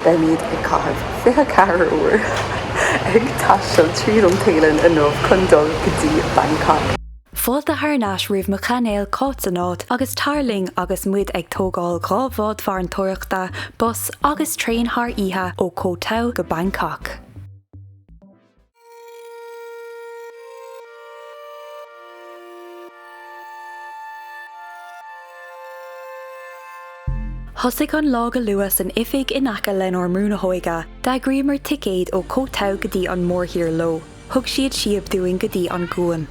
Beimid ag caitheamh 24 uair ag taisteal tríd an Téalainn inniu chun dul go dtí Bangkok. Fáilte thar n-ais roimh mo chainéal Cáit san áit agus tar linn agus muid ag tógáil dhá bhád farantóireachta, bus agus traein thar oíche ó Koh Tao go Bangkok. Thosaigh an lá go luath san oifig in aice lenár mbrú óige. D'eagraíomar ticéid ó Koh Tao go dtí an mórthír leo. Thug siad síob dúinn go dtí an gcuan.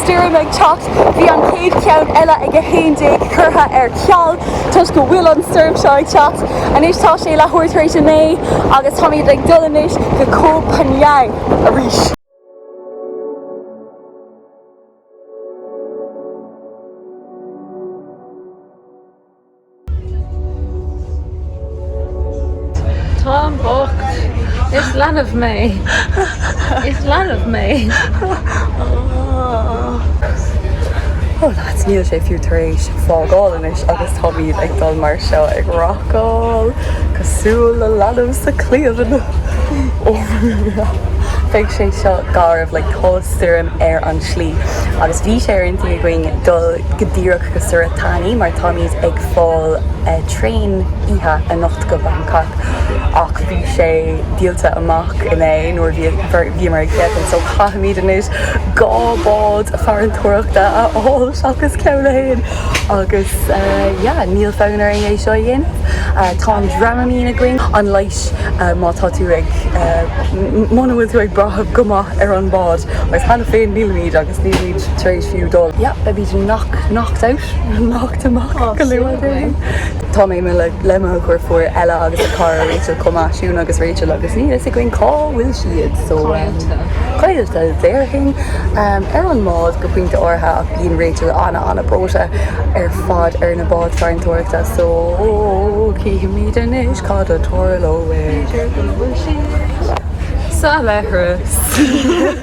Stoirm ag teacht, bhí an chéad cheann eile ag a 11 curtha ar ceal toisc go bhfuil an stoirm seo ag teacht. Anois tá sé leathuair tar éis a 9 agus táimid ag dul anois go Koh Phangan arís. Táim bocht. Is leanbh mé. Is leanbh mé. Ó lads, níl sé fiú tar éis fágáil anois agus táimid ag dul mar seo ag racáil cosúil le leanbh sa chliabhán. Beidh sé seo garbh lol tá stoirm ar an tslí agus bhí sé ar intinn againn dul go díreach go Surat Thani mar táimid ag fáil traen oíche anocht go Bangkok ach bhí sé díolta amach inné nuair a bhíomar ag féachaint so caithfimid anois dhá bhád farantóireachta a fháil seachas ceann amháin agus yeah níl fonn orainn é seo a dhéanamh. Tá an Dramamine againn, an leigheas má tá tú ag, muna bhfuil tú ag brath go maith ar an bád agus cheana féin nílimid agus nílimid tar éis. fiú dul. Yep, I beat him knock, knocked out, knocked him off go luath dúinn. Tá mé i mo le mo dheirfiúr Ella agus a cara Rachel chomh maith Siún agus Rachel agus níl a fhios againn cá bhfuil siad so Caillte. caillte déarfainn. Ar an mbád go pointe áirithe ach bíonn Rachel ana ana breoite ar fad ar na báid farantóireachta so chífimid anois cad a tharlóidh. B'fhéidir go bhfuil siad sa leithreas.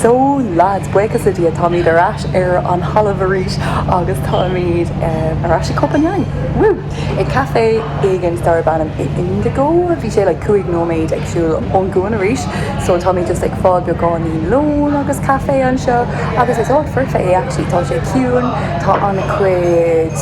So lads, buíochas le Dia táimid ar ais ar an dtalamh arís agus táimid ar ais ag Koh Phangan, woo! ag caifé éigint darbh ainm Indigo, bhí sé like cúig nóiméad ag siúl ón gcuan arís, so táimid just ag fáil beagáinín lóin agus caifé anseo agus is áit foirfe é actually, tá sé ciúin, tá an-chuid.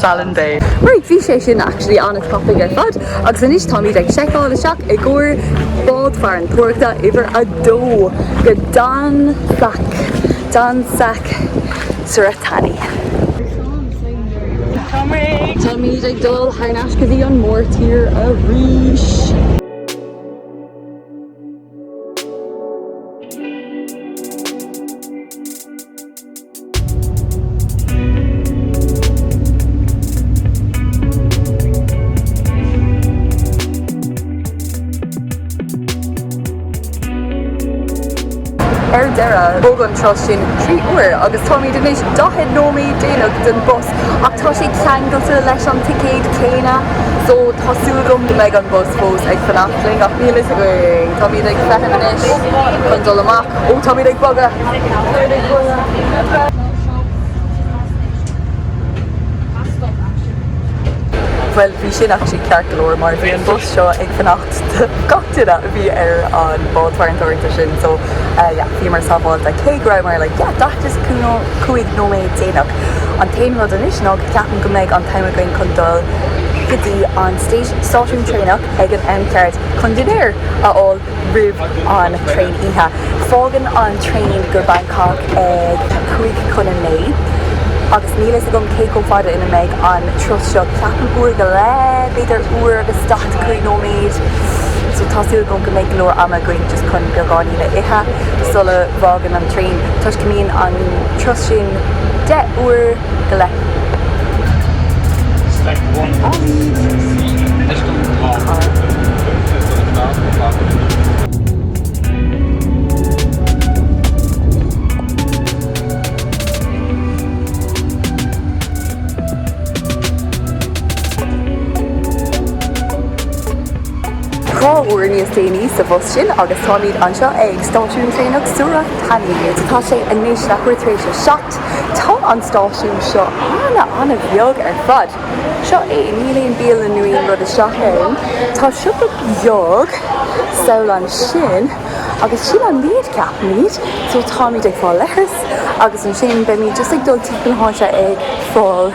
Fallon Bay. Right, bhí sé sin actually an-tapaidh ar fad agus anois táimid ag seiceáil isteach i gcomhair bád farantóireachta uimhir a dó go Donsak, Donsak Surat Thani. Táimid ag dul thar n-ais go dtí an mórtír arís. Ar deireadh, thóg an turas sin trí uair agus táimid anois 40 nóiméad déanach don bus ach tá sé ceangailte leis an ticéad céanna, so tá súil agam go mbeidh an bus fós ag fanacht linn ach níl a fhios againn. Táimid ag feitheamh anois chun dul amach. Ó, táimid ag bogadh! Bhuel, bhí sin actually ceart go leor mar bhí an bus seo ag fanacht do gach duine a bhí ar an bhád farantóireachta sin so yeah, bhíomar sábháilte cé go rabhamar like yeah, 45 nóiméad déanach. An t-aon rud anois nach gceapaim go mbeidh an t-am againn chun dul go dtí an stáisiún traenach ag an am ceart chun dinnéar a fháil. roimh an traein oíche. Fágann an traein go Bangkok ag a cúig chun a naoi agus níl a fhios agam cé chomh fada ina mbeidh an turas seo, ceapaim uair go leith, b'fhéidir uair agus daichead a cúig nóiméad. So tá súil agam go mbeidh go leor ama againn just chun beagáinín a ithe sula bhfágann an traein toisc go mbíonn an turas sin deich uair go leith. Dhá uair níos déanaí sa bhus sin agus táimid anseo ag stáisiún traenach Surat Thani. Tá sé anois leathuair tar éis a seacht. Tá an stáisiún seo an-an-bheag ar fad. Seo é, níl aon bialann nó aon rud isteach ann. Tá siopa beag amháin ansin agus sin an méid, ceapaimid, so táimid ag fáil leithreas agus ansin beimid just ag dul timpeall na háite ag fáil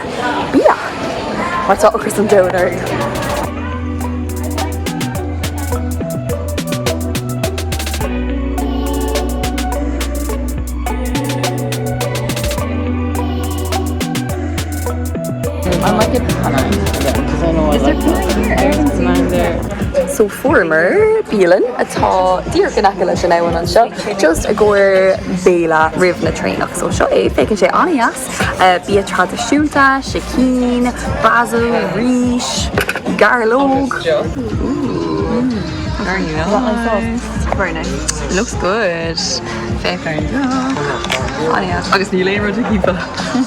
bia mar tá ocras an domhain orainn. So fuaireamar bialann atá díreach in aice leis an abhainn anseo, just i gcomhair béile roimh an traenach. So seo é, féachann sé an-dheas, bia traidisiúnta, sicín, basil, rís, gairleog. Ooh, very nice. Very nice. Looks good. Fair fair enough. Aye aye. Agus níl aon rud timpeall.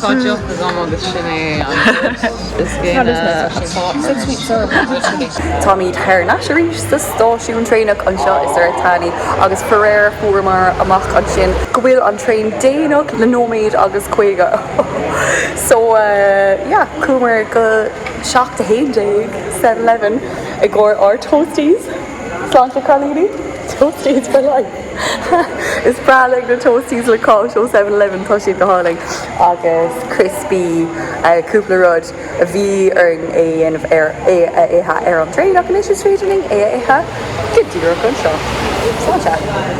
Tá deoch agam agus sin é an rud is déine atá orm. Táimid thar n-ais arís sa stáisiún traenach anseo i Surat Thani agus faraor fuaireamar amach ansin go bhfuil an traein déanach le nóiméad agus caoga so yeah chuamar go seacht a haon déag seven eleven i gcomhair ár toasties. Sláinte cailíní. Toasties for life. Is breá liom na toasties le cáis ó Seven Eleven, tá siad go hálainn, agus criospaí, cúpla rud a bhí orainn é a dhéanamh ar, é a ithe ar an traein ach anois is féidir linn é a ithe go díreach anseo. Sláinte.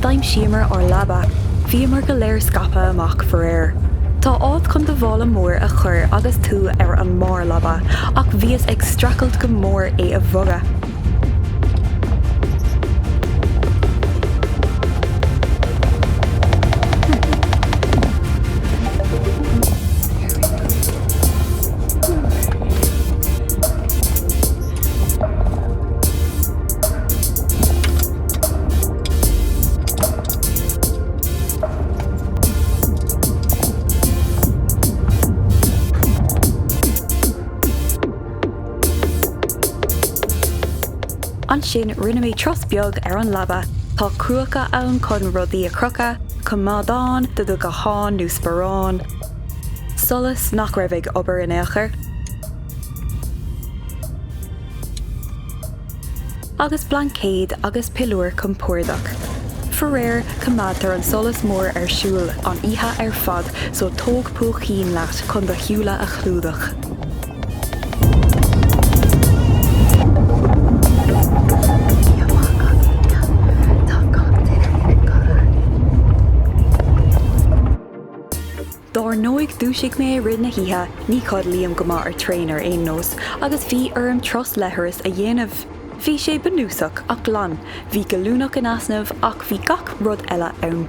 D'aimsíomar ár leaba. Bhíomar go léir scaipthe amach faraor. Tá áit chun do mhála mór a chur agus tú ar an mbarr leaba ach bhíos ag streachailt go mór é a bhogadh. Ansin rinne mé turas beag ar an leaba, tá crúcaí ann chun rudaí a chrochadh, coimeádán do do ghuthán nó sparán, solas nach raibh ag obair in aon chor. agus blaincéad agus piliúr compordach. Faraor, coimeádtar an solas mór ar siúl an oíche ar fad so tóg púicín leat chun do shúile a chlúdach. Dár ndóigh, dhúisigh mé i rith na hoíche, ní chodlaím go maith ar traein ar aon nós, agus bhí orm turas leithris a dhéanamh. Bhí sé bunúsach, ach glan. Bhí gallúnach in easnamh, ach bhí gach rud eile ann.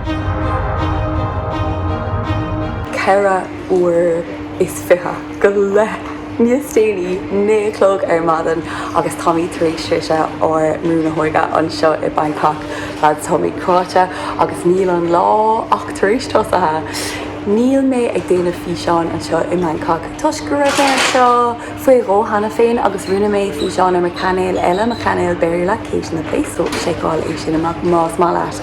ceithre uair is fiche go leith níos déanaí, naoi a chlog ar maidin, agus táimid tar éis sroichint ár mbrú na hóige anseo i Bangkok. Leaids, táimid cráite agus níl an lá ach tar éis tosaithe. Níl mé ag déanamh físeáin anseo i mBangkok toisc go raibh mé anseo faoi dhó cheana féin agus rinne mé físeán ar mo chainéal eile, mo chainéal Béarla, Kate in the Place, so seiceáil é sin amach más maith leat.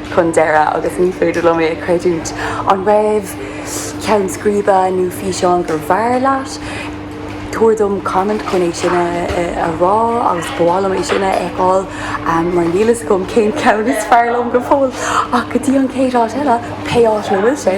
chun deireadh agus ní féidir liom é a chreidiúint. An raibh ceann scríbe nó físeán gur bhfearr leat? Tabhair dom comment chun é sin a rá agus ba mhaith liom é sin a fheiceáil mar níl a fhios agam cén ceann is fearr liom go fóill ach go dtí an chéad áit eile, pé áit ina bhfuil sé!